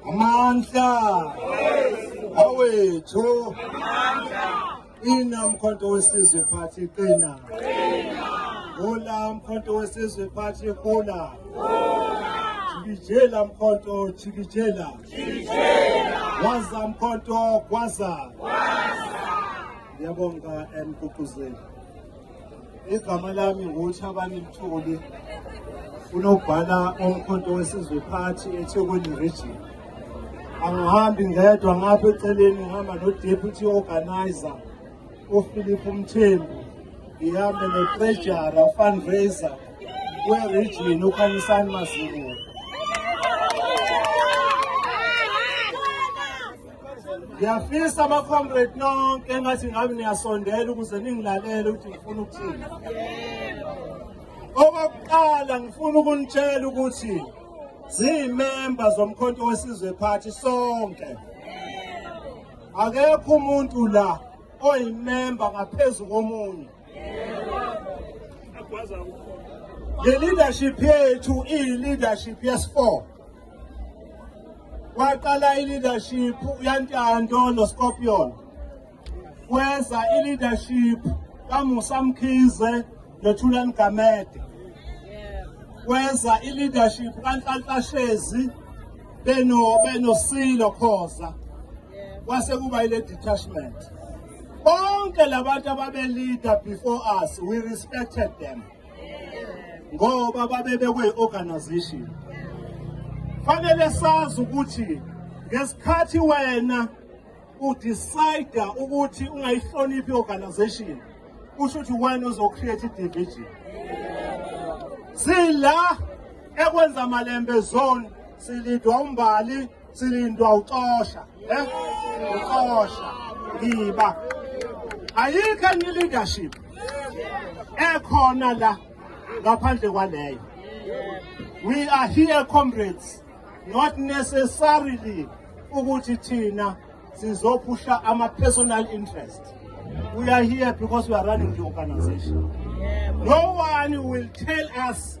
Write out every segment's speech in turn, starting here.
amandla awethu ina mkhonto wesizwe phathi qina hula mkhonto wesizwe phathi hula jikijela mkhonto jikijela waza mkhonto kwaza Ngiyabonga emgqugquzeli. Eh, Igama lami nguThabani Mthuli. Unobhala omkhonto wesizwe party eThekwini region. Angihambi ngedwa ngapha eceleni ngihamba nodeputy organizer uPhilip Mthembu. Ngihambe notrejara fundraiser weregion uKhanyisani Mazibuko. ngiyafisa abacomrade nonke engathi ngabe niyasondela ukuze ningilalele ukuthi ngifuna ukuthini okokuqala ngifuna ukunitshela ukuthi ziyimemba zomkhonto wesizwe phathi sonke akekho umuntu la oyimemba ngaphezu komunye le leadership yethu iyi-leadership yesi-four kwaqala i-leadership yantando noscorpion kweza i-leadership kamusa mkhize nothulani gamede kweza i-leadership kanhlanhlashezi beno benosilo khoza kwase kuba ile detachment bonke labantu ababelida before us we respected them ngoba babe bekwi-organization fanele sazi ukuthi ngesikhathi wena udecide ukuthi ungayihloniphi i-organization kusho ukuthi wena uzocreate i-division sila ekwenza malembe zone silidwa umbali silindwa uxosha eh uxosha ngiba ayikho enye leadership ekhona la ngaphandle kwaleyo we are here comrades not necessarily ukuthi thina sizophusha ama personal interest we are here because we are running the organization no one will tell us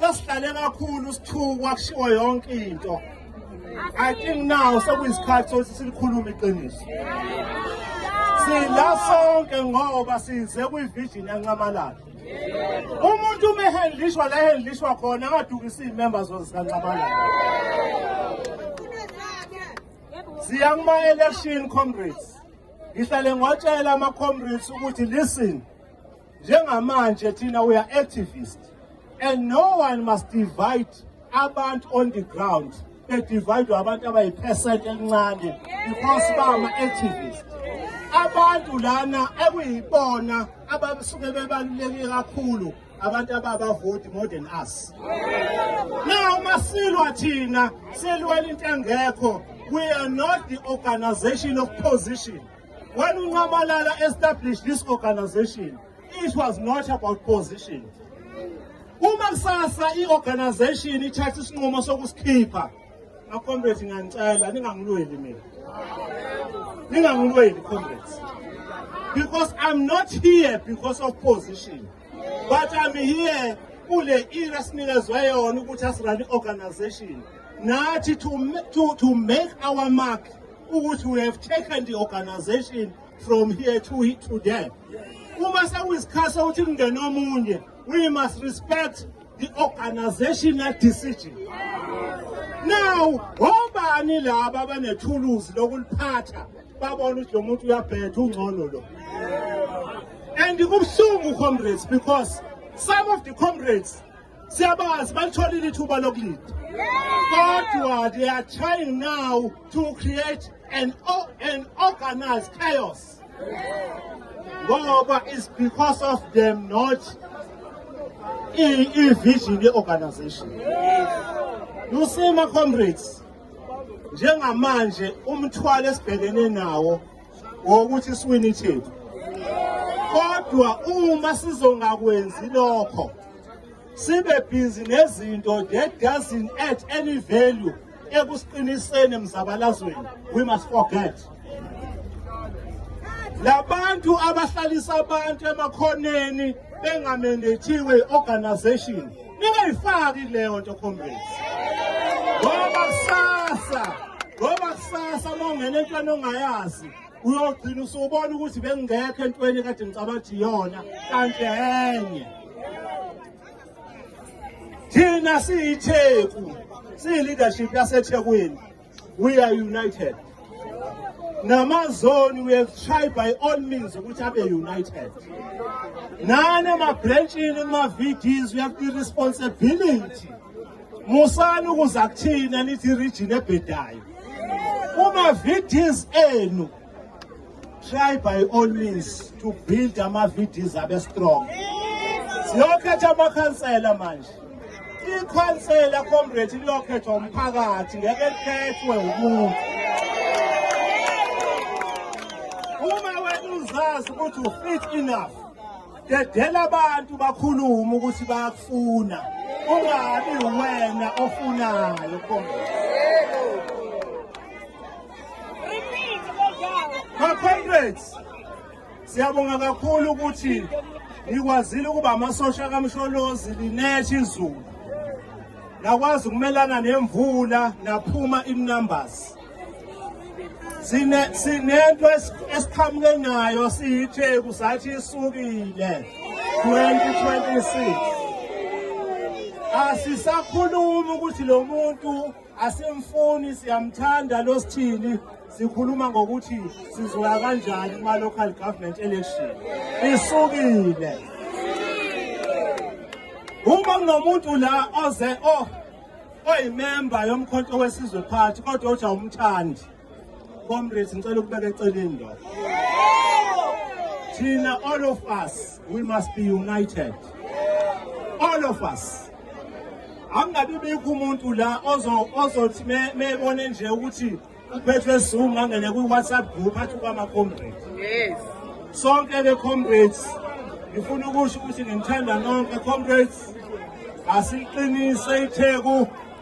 sesihlale kakhulu sithukwa kushiwo yonke into i think now sekuyisikhathi sokuthi silikhulume iqiniso sila sonke ngoba size kwivision yancamalala umuntu uma ehendlishwa la ehendlishwa khona angadukisa iy'member zose sikancamalala siya kuma-election comrades ngihlale ngwatshela ama-comrades ukuthi listen Njengamanje thina we are activist and no one must divide abantu on the ground bedivide abantu abayipercent elincane because bama activist abantu lana ekuyibona abasuke bebaluleke kakhulu abantu ababavoti more than us now masilwa thina silwela into engekho we are not the organization of position When Unqamalala established this organization, it was not about position. Uma kusasa i-organization ithatha isinqumo sokusikhipha, makomrade ngiyanicela ningangilweli mina. Ningangilweli comrades. Because I'm not here because of position, but I'm here kule ira sinikezwe yona ukuthi asirani organization nathi to, to, to make our mark ukuthi we have taken the organization from here to, to there uma sekuyisikhathi sokuthi kungene omunye we must respect the organizational decision now obani laba abanethuluzi lokuliphatha babona ukuthi lo muntu uyabhetha ungcono lo and kubuhlungu comrades because some of the comrades Siyabazi balitholile ithuba lokulinda. Kodwa they are trying now to create an an organized chaos. Ngoba is because of them not i-vision ye-organization. You see my comrades njengamanje umthwalo esibhekene nawo ngokuthi siwini ithethu kodwa uma sizongakwenzi lokho sibe busy nezinto that doesn't add any value ekusiqiniseni emzabalazweni we must forget labantu abahlalisa abantu emakhoneni bengamendethiwe organization ningayifaki leyo nto comrades ngoba kusasa ngoba kusasa uma ungena entweni ongayazi uyogcina usubona ukuthi bengingekho entweni kade ngicabanga ukuthi yona kanti enye thina siyitheku siyi-leadership yasethekwini we are united namazoni we have tried by all means ukuthi abe united nani emabhrentshini kuma-vds we have the responsibility musani ukuza kuthina nithi irijini ebhedayo kuma-vds enu try by all means to build ama-vds abe strong siyokhetha amakhansela manje ikhansela comrade liyokhethwa umphakathi ngeke likhethwe umuntu uma wena uzazi ukuthi ufit enough dedela abantu bakhulume ukuthi bayakufuna ungabi wena ofunayo comrade Comrades, siyabonga kakhulu ukuthi nikwazile ukuba amasosha kaMsholozi linethe izulu. Nakwazi ukumelana nemvula naphuma inumbers. Sine sinento esiqhamuke nayo siyitheku sathi isukile 2026. Asisakhulumi ukuthi lo muntu asimfuni siyamthanda lo sithini sikhuluma ngokuthi sizoya kanjani kuma-local government election isukile uma kunomuntu la oze oyimemba yomkhonto wesizwe phathi kodwa uthi awumthandi Comrades ngicela ukubeka eceleni lo. Thina all of us we must be united. All of us. Angabe bikho umuntu la ozo ozothi mebone nje ukuthi uphethwe sizungu angene kwi WhatsApp group athi kwama comrades. Yes. Sonke ke comrades ngifuna ukusho ukuthi ngimthanda nonke comrades asiqinise itheku